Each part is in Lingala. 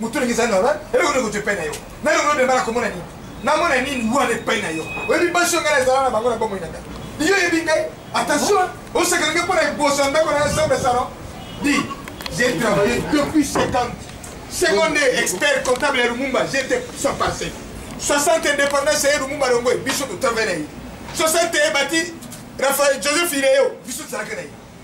moto ndenge eza normal eloko ndeko epai na yo na eloko ndemba na komona nini namona nini wana epai na yo oyebi basi yo ngai nazala na bango na bomoi na ngai iyo oyebi ngai attention osaka ndenge mpo na eboso ndako na yo sombe salon di j'ai travaillé depuis 50 seconde expert comptable ya lumumba j'étais sans passé 60 indépendance ya lumumba longoe biso totravaille na ye 60 ebati rafael joseph ileyo biso tozalaka na ye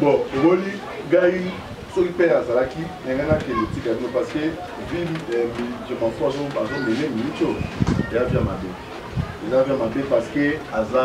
bon omoni gai soki mpe azalaki ndenge nakende tika bino parce que ville eh, je m'en fous azomele micho eza vya mabe eza vya mabe parce que aza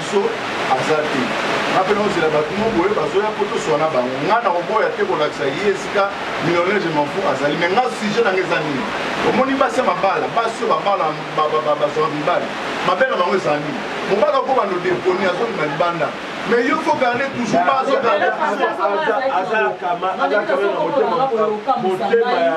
biso aza te nga mpe naozela bato mo boye bazoya mpo toswana bango nga nakoboya te kolakisa ye esika millionnaire je manfou azali me nga sujet nanga eza nini omoni basi ya mabala basi oyo babala bazwaka mibali mabe na bango eza nini mobali oko bando deponi azobima libanda me yo fo garde toujours bazoaza kama aza kama na motema motema ya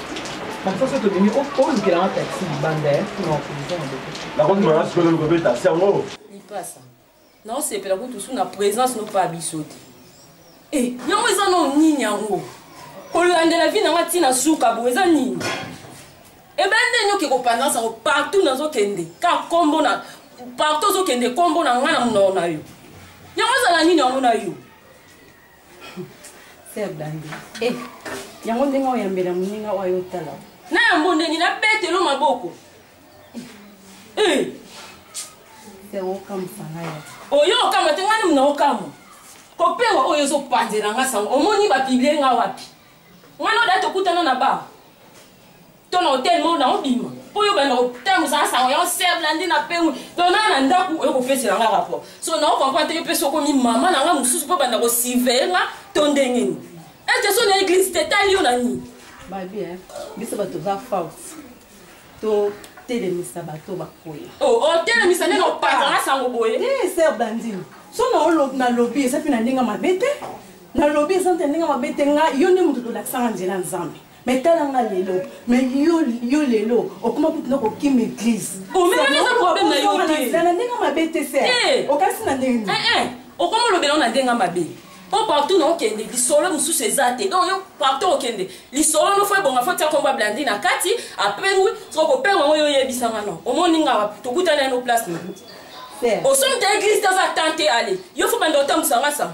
naosepela kutu su na présence no pa biso te eh, yango eza no nini yango kolandela vi nanga ntina suka bo eza nini ebe eh ndenge oke kopandansa yango partout nazokende ka kombo na partout ozokende kombo na ngai na monoko na yo yango ezala nini yango na yo Sœur Dandy. Eh, yango ndenge oyambela moninga oyo ayo otala. Na yango ndenge na betelo maboko. Eh. Sœur eh. okamisa ngai. Oyo okamata ngani mna okamwa. Kopewa oyo ezopanzela nga sango. Omoni ba piblie nga wapi? wana odati okutana na ba to na hotel moko na obima mpo yo banda kotambusa na sango yango ser landi na pengwi donc naa na ndako oyo kopesela nga rapport so nao comprendre te yo mpe sokomi mama na nga mosusu mpo banda kosiveye nga to ndenge nini ete so na eglise te tali yo na nini babi biso bato za force to otelemisa bato bakoya oh, otelemisa ndenge opatana sango boye eh, ser blandine so nalobi eza mpe na ndenge mabe te nalobi eza nte ndenge mabe te nga yo nde moto tolakisanga nzela ya nzambe me tala nga lelo me yo lelo okoma kutu na kokima eglise na ndenge mabe te se eh. okasi na ndenge nini eh, eh. okoma olobela na ndenge mabe po oh, partout na okende lisolo mosusu eza te donc yo partout okende lisolo no fo ebonga fo tia kombo ablandi na kati apengwi soko kopenga yango yo oyebisanga no omoni nga wapi tokutani yano place na osomi ta eglise te aza tan te ale yo fo banda otambusanga sango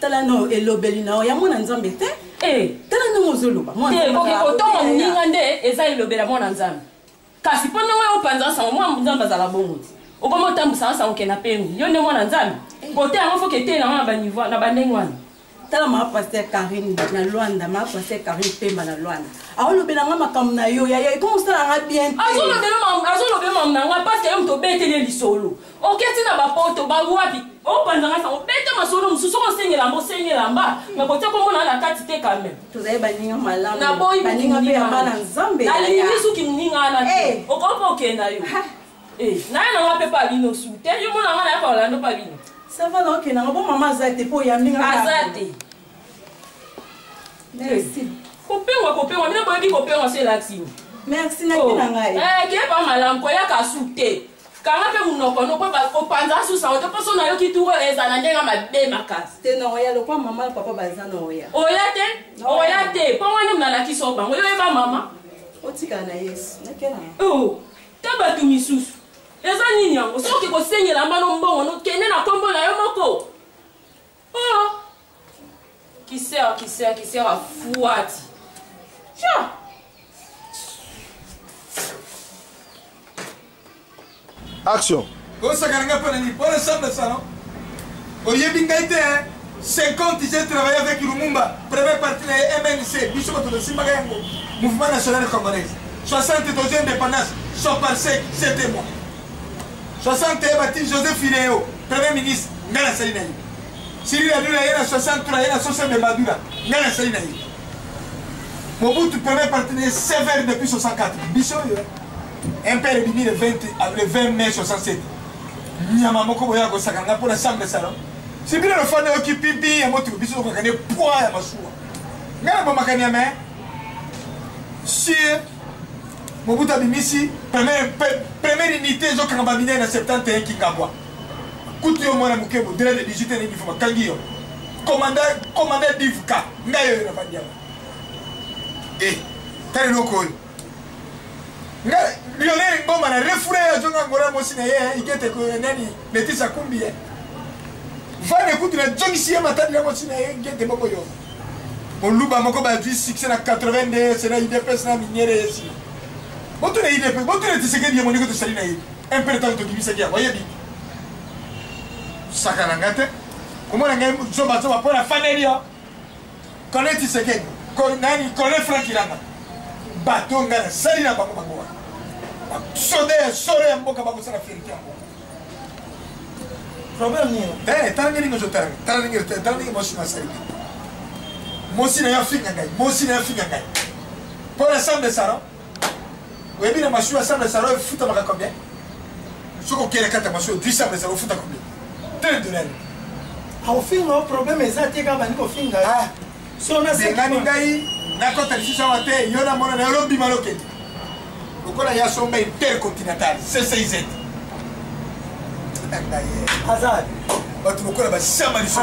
tala no elobeli na yo ya mwana nzambe te eh. tala ndenge ozoloba kotonga moninga nde eza elobela mwana nzambe kasi mpo ndenge opanzaka sango mwana nzambe azala bongo te okomi otambwisaka sango ke na pemi yo nde mwana nzambe eh. kote yango foke etei na wana na bandenge wana tala maa paster karine na lwanda maa paster karine pemba na lwanda aolobela nga makambo na yo yaya ekomi osala nga bien azolobela makambo na nga parce que yo moto obeteli lisolo oketi na bapoto bawapi opanza nga sango beta masolo mosusu oko osengi elamba osengi elamba me kotia kombo na na kati te kame tozali baninga malamu naboyi baninga mpe ya bana nzambe nalingi suki moninga wana te eh. okoki okenda yo eh, naye nanga mpe pa bino su te yo mona nga naye pa olando pa bino sava naokenda nga bo mama aza te mpo oyambi nga aza te Merci. Kopengwa kopengwa mina boyebi kopengwa se latini. Merci na oh. kina ngai. Eh kepa malamu koyaka su te. kanga mpe monoko no mpo opanza susa ote mpo so nayoki turo eza na ndenge mabe makasi te na oya lokwa mama papa baza na oya oya te oya te mpo wana nalakisi o bango yoyeba mama otikala na yesu nakela oh, ta bato misusu eza nini yango soki kosengela mbano mbongo nokende na nkombo na yo moko Oh! Kisser, kisser, kisser a fouati. Tiens! Action! Osaka nga pona ni pona samba sano. Oyebi ngai te hein. 50 j'ai travaillé avec Lumumba, premier parti na MNC, biso bato tosimbaka yango, mouvement national congolais. 60 tozi indépendance, soit par sec, c'était moi. 60 ye batini joseph fileo premier ministre ngai nasali na ye sili nadula ye na 63 ye na sosebe madula ngai nasali na ye mobutu premier parti na ye sever depuis 64 biso oyo impere ebimi le 20 le 20 mai 67 nyama moko boya kosaka ngai mpo na sambe salon si bino lofanda yoki pipi ya motuku biso tokokaka ne poids ya masuwa ngai na bomakani ya mai sur Mobutu abimisi première première unité ezo kanga ba minene na 71 Kingabwa. Kutu yo mwana moke bodela de 18 ans ni fuma kangi yo. Commandant commandant Divka ngai yo na bandia. Eh, tali loko yo. Ngai lionel Ngoma na refoule ya zonga ngora mosi na ye, ikete ko nani? Leticia kumbi ye. Vane kutu na jongisi ye matadi yango si na ye ngete moko yo. Moluba moko ba vie succès na 82 c'est na IDPS na minière yesi. Botu na IDPS, botu na tisekedi yemo niko tosali na ye. Un peu de temps to kimisa kia, voyez bien. Saka na ngate. Komona ngai zoba zoba pona faneli yo. kole tisekedi nani kole frank ilanga bato ngai nasali na bango bango wana basoda ya solo ya mboka bakosala fierite yango problème nini eh, tala ndenge nyonso tala tala ndenge tala ndenge mwasi nasali te mwasi na yo afinga ngai mwasi na yo afinga ngai mpo na sambe sara oyebi na masuwa sable ya salo efutamaka combien soki okele kata masuwa dui sable ya salo ofuta combien tele dollar akofinga o problème eza te kaka bandi kofinga ah. bengani ngai nakota lisusu awa te yo namona na yo lobima lokende lokola ya somba intercontinental cciz aza bato lokola basama lisoo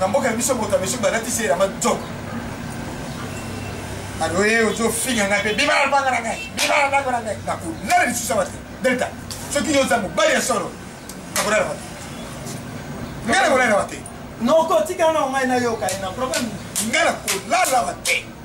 na mboka na biso moto ya mesu balatisi elamba nzoka aloye ozofinga ngai mpe bima na lobanga na ngai bima na ndako na ngai nakolala lisusu awa te delta soki yo oza mobali ya solo nakolala wa te ngai nakolala wa te noko tikala na ngai nayoka ye na problème ngai nakolala wa te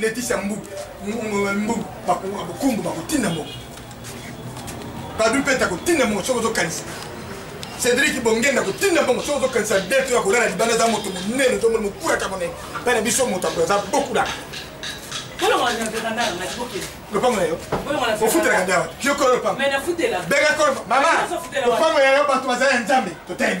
Leticia mbu mbu bakumbu bakotinda moko badu mpete akotinda moko soki ozokanisa cédrik bongenda akotinda moko soki ozokanisa deto ya kolala libanda aza moto monene tomoni mokuraka monene mpe na biso moto akoyo aza bokulaka lopango na yo ofutelaka ndawa yo kolo lopango benga kolo mama lopango ya yo bato baza ya nzambe totelemi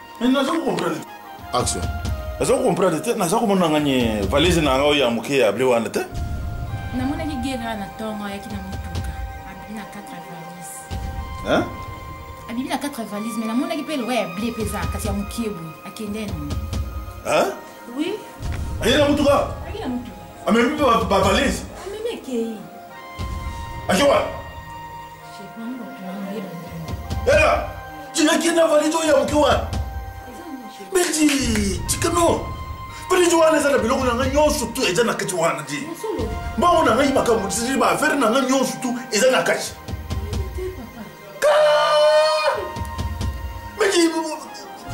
Mais nazo comprendre. Action. Nazo comprendre te, nazo komona nganye valise na ngao ya muke ya bleu wana te. Namona ki gera na tongo ya kina mutuka. Abi na 4 valise. Hein? Abi na 4 valise mais namona ki pe loya ya bleu peza kasi ya muke bu akende no. Hein? Oui. Aye na mutuka. Aye na mutuka. Amemi ba valise. Amemi kei. Ajoa. Ela, jina kina valijo ya mkiwa. Biji, chikano. Valijo wana zana biloko na nga nyonso tu eza na kati wana di. Mbango na ngai makambo tisili ba affaire na nga nyonso tu eza na kati. Biji,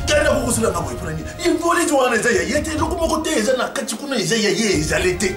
kenda kokosila nga boye mpona nini? Ye valijo wana eza ya ye te, eloko moko te eza na kati kuna eza ya ye ezali te.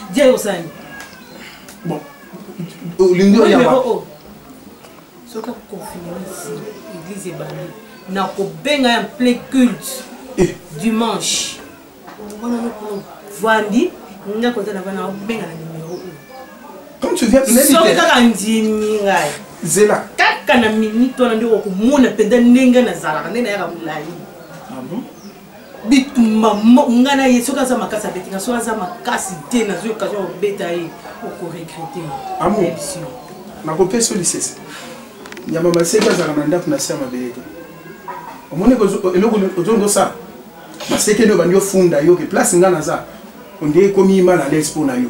dia yo osani bon olingi oya wapi soki akofinisi église ebandi nakobenga ya plein culte eh. dimanche wana vandi nga koza na bana obenga na numero oyo comme tu viens soki kaka ndimi ngai zela kaka na minute wana nde okomona mpenza ndenge nazalaka nde nayaka molai bitumba nga na ye soki aza makasi abeti nga soki aza makasi te nazwi occasion ya kobeta ye okoregrete amour nakopesa yo lisese nyama maseki azala na ndako na se ya mabele te omoni eloko ozongi osala maseke nde obandi ofunda yo ke place nga naza onde ekomi mal à l'aise mpo na yo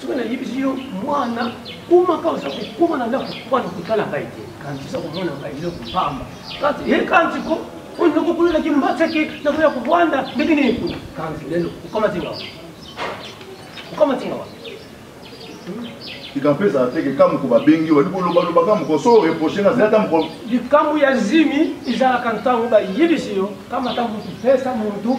soki nayebisi yo mwana komaka oza kokoma na ndako mwana kotala ngai te kanti oza komona ngai eloko mpamba kanti ye kanti ko oyo nakokolelaki mbataki nakoya kobwanda ndenge nini kuna kanti lelo okamati ngawa okamati ngawa likambo ezala te likambo ko babengi wali kolobaloba kambo ko so reproche na zela kambo ko likambo ya zimi ezalaka ntango bayebisi yo kamata motu pesa motu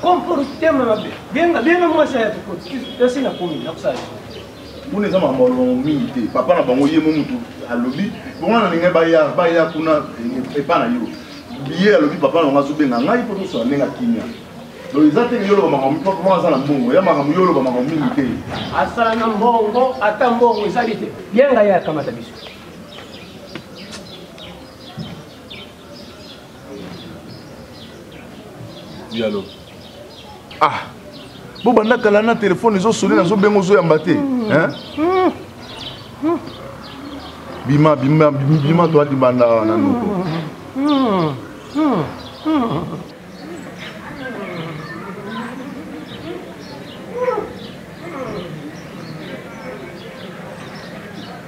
Comportement mabe. Benga benga mwasi ya tukoti. Kasi na komi na kusala. Muna eza makambo alobamo mingi te. Papa na bango ye mo mutu alobi. Bongo na ninga baya baya kuna eh, epa na yo. Biye alobi papa na bango azobenga ngai mpo tosala ndenge akimia. Donc eza te yo loba makambo mpo mpo aza na mbongo. Ya makambo yo loba makambo mingi te. Asala na mbongo ata mbongo ezali te. Yenga ye akamata biso. yalo ah bobanda kala na telefone ezosone nazobenga ozoyamba te bima bima bima toa libanda awa na noko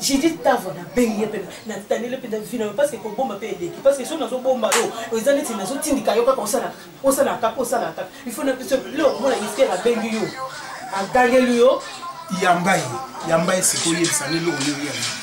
Judith Tavo na bengi ye pena na tanele pena vina parce que kobomba pe eleki parce que so nazo bomba yo oza neti nazo tindika yo kaka osala osala kaka osala kaka il faut na biso leo komona Esther abengi yo agangeli yo yamba ye yamba ye sikoyo yebisa nde eloko nini yamba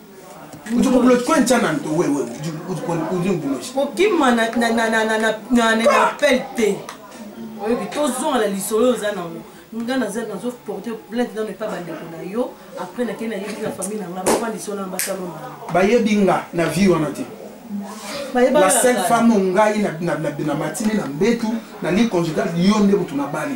kokima na appel te oyebi tozonga na lisolo oyo oza nango nga naza nazo porte plainte nano epa bandeko na yo après nakei nayebi na famille na nga bafandisi wana na basalona bayebi nga na vie wana te la seule femme ngai na matini na mbetu na ligne conjugale yo nde motu na bali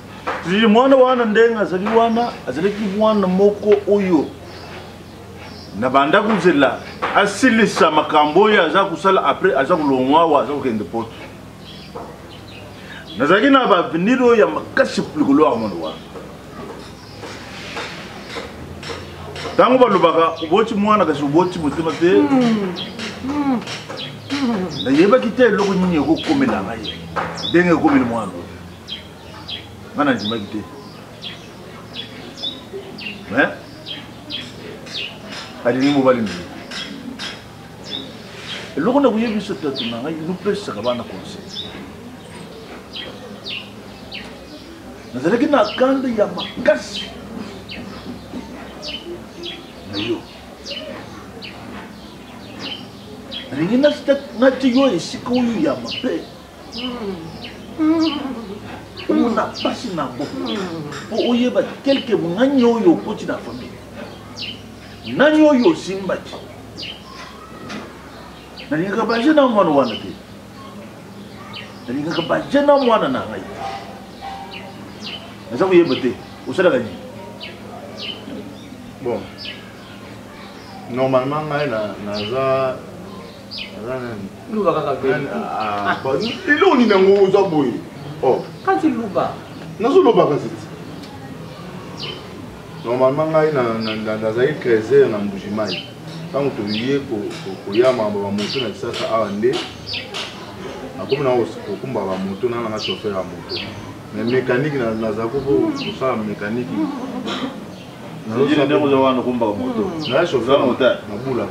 Lili mwana wana ndenge azali wana azalaki mwana moko oyo na banda kozela asilisa makambo oyo aza kosala après aza kolongwa awa aza kokende poto nazalaki na baavenir oyo ya makasi likolo ya mwana wana ntango balobaka oboti mwana kasi oboti motema te hmm. Hmm. nayebaki te eloko nini ekokomela ngai ndenge ekomeli mwana nga nandimaki te me alingi mobali na ye eloko na koyebisa tatu na ngai nopesaka bana conseil nazalaki na kanda ya makasi na yo nalingi nati yo esika oyo ya mabe omona mpasi na yango mpo oyeba kelke nani oyo okoti na famille nani oyo osimbaki nalingaka baje na mwana wana te nalingaka baje na mwana na ngai naza koyeba te osalaka nini bon normalement ngai naza luba kaka beni ah, ah. eloko nini yango oza boye oh. kasi luba nazoloba kasi ti normalement ngai nazali 13 heure na mbujimai ntango toye koya makambo bamoto na lisasa awa nde nakomi na kokumba bamoto na nanga chauffeur ya moto mais mécanique naza kosala mécanique nazobulaka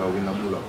wi nabulaka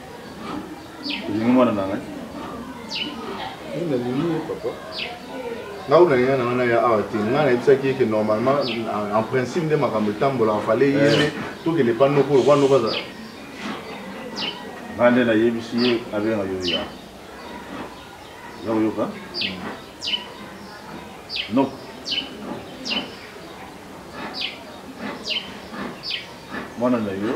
olingi mwana na ngai nalingi ye papa ngai nalinga na wana ya awa te ngai nayebisaki ye ke normalement en principe nde makambo etambolaka fale ye nde eh. tokende pa noko lokwa noko azala ngai nde nayebisi ye abenga yo ya ya koyoka noko mwana na yo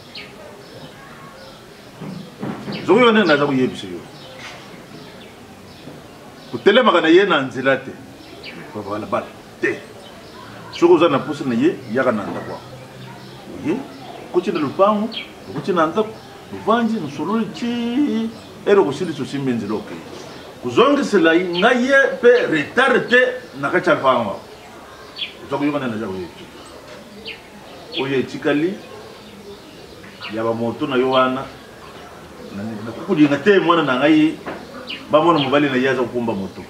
zokoyoka ndenge naza koyebisa yo kotelemaka na ye na nzela te babalabala te soki oza na mposa na ye yaka na ndako yango oye okoti na lopango okoti na ndako ovandi mosololi ti ere okosilisa osimbi nzela okei kozongisela ngai ye mpe retard te na kati ya lopango yango oza koyokana na jako ye oyo etikali ya bamoto na yo wana nakokolinga te mwana na ngai bamona mobali na ye aza kokumba moto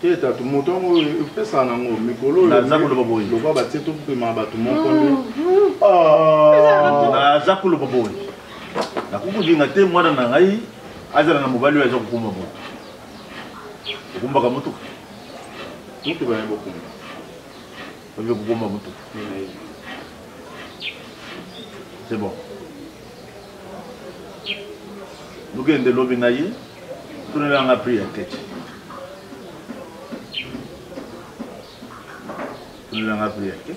te tatu moto yango epesaka nango mikolo oyonaza koloba boye lokwa batie topema bato moko nde naza koloba boye nakokolinga te mwana na ngai azala na mobali oyo aza kokumba moto okumbaka motuka motuka yango okumba Oyo kobomba moto. C'est bon. Nokende lobi na ye tonela nga prix ya keke tonela nga prix ya keke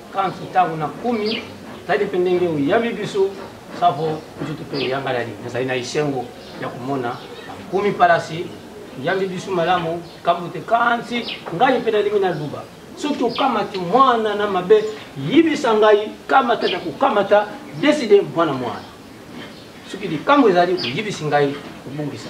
Kanki ntango nakomi tali mpe ndenge oyambi biso safo nzoto mpe eyangalali nazali na esengo ya komona bakomi palasi oyambi biso malamu kambo te kansi ngai mpe nalingi naluba soki okamati mwana na mabe yibisa ngai kamata na kokamata deside mwana mwana soki likambo ezali oyibisi ngai kobungisa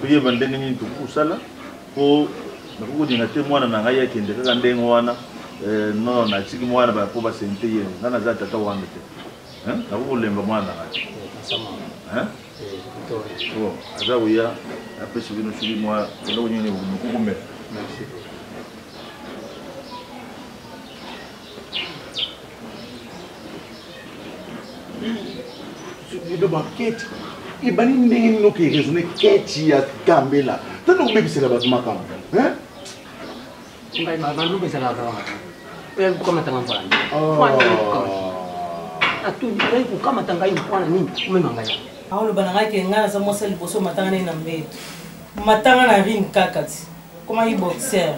toyeba ndenge nini tokosala mpo nakoki kolinga te mwana na ngai akende kaka ndenge wana eh, no natiki mwana mpo baseni te ye ngai naza tata wana te nakoki kolemba mwana na ngai eh, oh, aza koya apesi bino soki mwa eloko nini mokokomela ebe baketi ebandi ndenge nini oke raisonne keti ya gambela tana obebisela bato makambo banduku ezalaka oyebi kokamatanga mvana oyebi kokamata ngai mwana nini omema ngai aoloba na ngai ke ngai naza mwasi ya liboso matanga nini na mbeto matanga na rine kaka ti Comment il boxer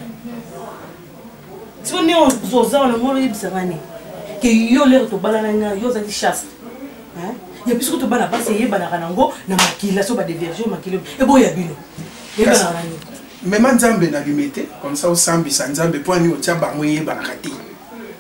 siko ndenge oza wana ngo oyebisa ngani ke yo lere tobalana nga yo ozali chaste ya biso kutu bana basi eyebanaka nango na makila so badeverge makila eboya bino eyebanaka na nini mema nzambe na limete comme ça osambisa nzambe mpo ani otya bango eyebanaka te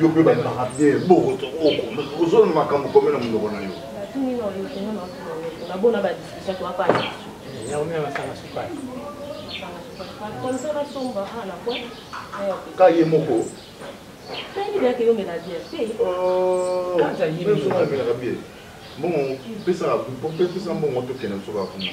yo mpe bandaka bien bokoto ozona makambo kome na monoko na yo ka ye moko mbongo pesaka mbongo tokende soka kuna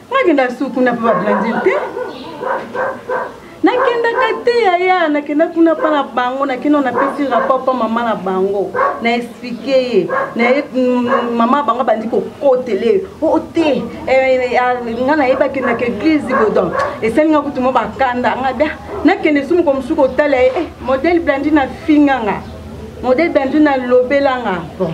nakenda su kuna mpe bablandile te nakendaka te yaya nakenda kuna mpa na bango nakenda napesi rapport mpa mama na bango na explike ye naye mm, mama na bango abandi kokotele o oh, oh, te eh, eh, ah, nga nayeba akendaka eglise bodon esali nga kutu mo bakanda nga bia nakende su moko mosuku otala ye eh, modele blandi na finga nga modele blandi na lobela nga bon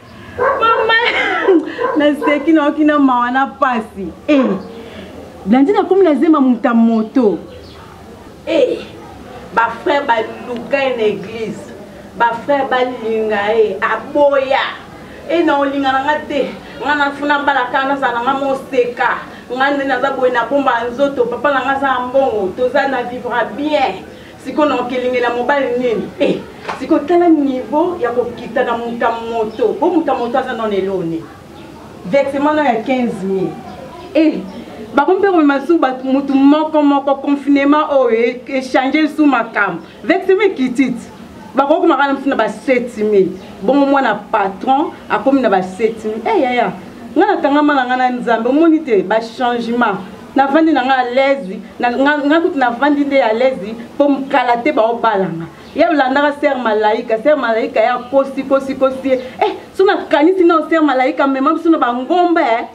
naseki nayoki na mawa na mpasi e eh, blandi nakomi na zema muta moto e eh, bafrère baluka ye na église bafrère balinga ye aboya e eh, na olinga na nga te nga nafuna balaka nazala na nga moseka nga nde naza boye na bomba nzoto papa na nga aza mbongo toza na vivra bien siko na okelingela mobali nini eh, siko tala niveau ya kokita na muta moto po muta moto aza nona elone vexement ya 15 000 eh, bango mpe komema lisusu bato motu moko moko confinement oyo e, echange lisusu makambo vexeme ekititi bakoki komaka na mosu na ba 7000 bongo mwana patron akomi na ba 7000 eyaya eh, ngai nakangama na ngai na nzambe omoni te bachangement navandi na ngai alaise ngai kutu navandi nde alaise mpo kala te baobalanga ye olandaka ser malaika ser malaika ya kosi kosi kosi ye eh, so nakanisi nao ser malaika amema biso na bangomba e eh.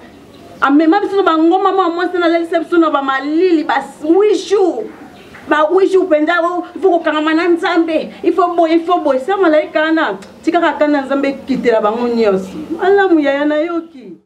amema biso na bangomba mwa mwasi nalalisa biso na bamalili ba huit jours ba huit jours mpenza oh, ifo kokangama na nzambe ifo boye ifo boye ser malaika wana tikaka ata na nzambe ekitela bango nyonso malamu yaya nayoki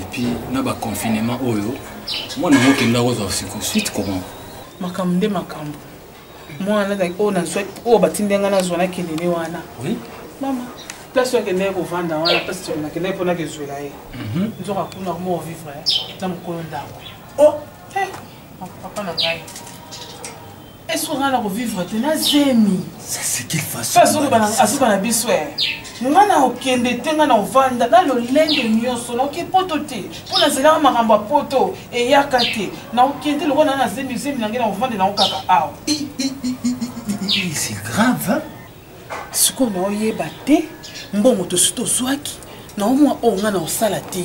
epuis na baconfinement oyo mwana yango okenda kozwa siko suite comment makambo nde makambo mwana azalaki oyo nazwa oyo batindi ngai nazwa na kelele wana mama place oyo akendaki kovanda wana place toko nakendaki mpo nakezwela ye mhm. nzoka kuna koma ovivre na mokolo ndako oh, eh, papa na ngai est-ce qu'on a ko vivre te na zemi ça c'est quelle façon azo bana azo bana biso nga na okende te nga na ovanda na lolenge nyonso na oke poto te mpo nazelaka makambo ya poto eyaka te na okende lokola na na zemi zemi na ngai na ovanda na okaka awa c'est grave hein? sikoyo naoyeba te mbongo tosi tozwaki naomwa oyo nga na osala te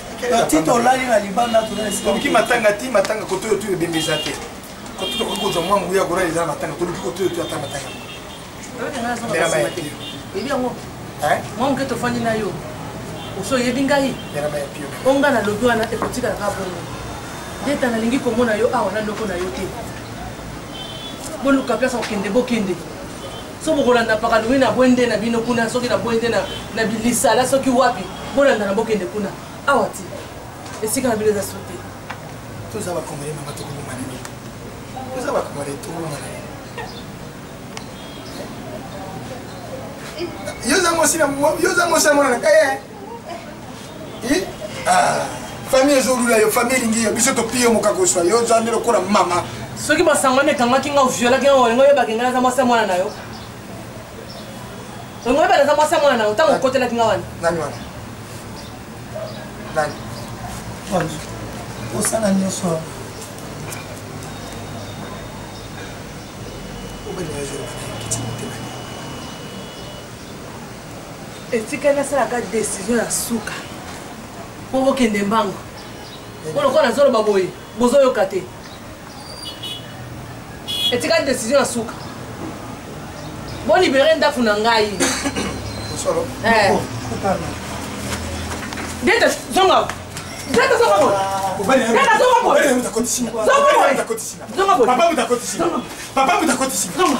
ti tolali na libanda toluki matanga ti matanga koto oyo tu ebembe eza te koto tokoki kozwa mwa nguya kolala eza na matanga toluki koto oyo tu ata matanga oyebi yango mwa moke tofandi na yo oso oyebi ngai o ngai nalobi wana ekotikala kaka bongo ndeta nalingi komona yo awa na loko na yo te boluka place okende bokende so bokolanda pakalungi na bwende na bino kuna soki na bwende na bilisala soki wapi bolanda na bokende kuna awa ti esika na bino eza so te toza bakongole mama tokoboma nini toza bakongole tokoboma nini yo oza mwasi na yo oza mwasi na mwana na kaye Ah, famille ezolula yo famille elingi yo biso topiye moka kozwa yo oza nde lokola mama soki basangwani ekangaki nga oviolaki nga olingo oyebaki nga naza mwasi ya mwana na yo olingo oyeba naza mwasi ya mwana na yo ntango okotelaki nga wana nani wana nani osala nyonso obele etikali nasalaka desizio ya suka mpo bokende mbango mpo lokola nazoloba boye bozoyoka te etikali desizio ya suka bolibere ndako na ngai eh. deta zonga deta zonga boye deta zonga boye zonga boye papa mutakotisi papa mutakotisi zonga